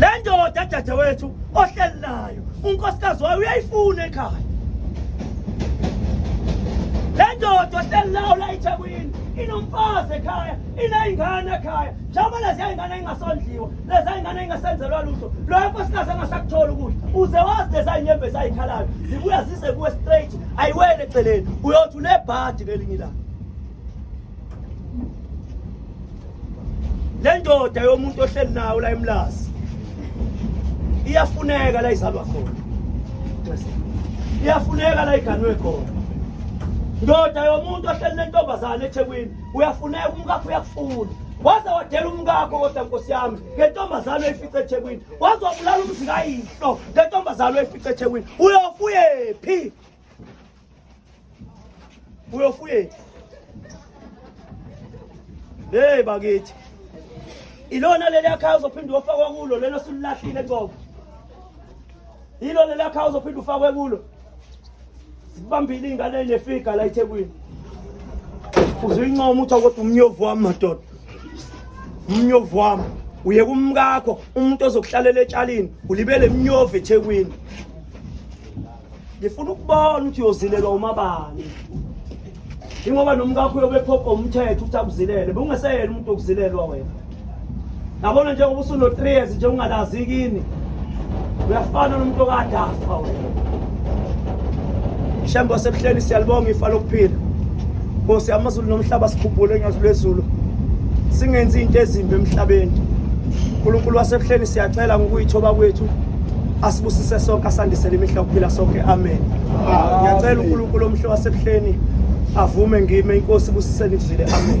le ndoda dadewethu ohleli nayo unkosikazi wayo uyayifuna ekhaya le ndoda ohleli nayo la ethekwini inomfazi ekhaya iney'ngane ekhaya njengoba leziya y'ngane ey'ngasondliwa leziya y'ngane ey'ngasenzelwa lutho loyo nkosikazi angasakutholi ukudla uze wazi leziya y'nyembe esayikhalayo zibuya zize kuwe straight ayiwele eceleni uyothi unebhadi ngelinye ilanga le ndoda yomuntu ohleli nawo la emlazi iyafuneka la izalwa khona iyafuneka la iganwe khona ndoda yomuntu ohleli nentombazane ethekwini uyafuneka umkakho uyakufuna waze wadela umkakho kodwa nkosi yami ngentombazane oyifice ethekwini wazobulala umzikayihlo ngentombazane oyifice ethekwini uyofuyephi uyofuyethu hey bakithi ilona leli akhaya uzophinde uyofakwa kulo lelo sililahlile qobo yilo leli akhaya uzophinde ufakwe kulo zikubambile iy'ngane enefiga la ethekwini uzuyincoma uthi kodwa umnyovu wami madoda umnyovu wami uye kumkakho umuntu ozokuhlalela etshalini ulibele mnyovu ethekwini ngifuna ukubona ukuthi uyozilelwa umabani ingoba nomkakho uyobephopha umthetho ukuthi akuzilele bungeseyena umuntu okuzilelwa wena yabona njengoba usuno-three years nje ungalazi kini uyafana nomuntu okade afa wena shembo sebuhleni siyalibonga ifa lokuphila Nkosi amazulu nomhlaba sikhuphule nyazi lwezulu singenzi into ezimbi emhlabeni uNkulunkulu wasebuhleni siyacela ngokuyithoba kwethu asibusise sonke asandisele imihla ukuphila sonke amen ngiyacela uNkulunkulu omhle wasebuhleni avume ngime inkosi busiseni kuzile amen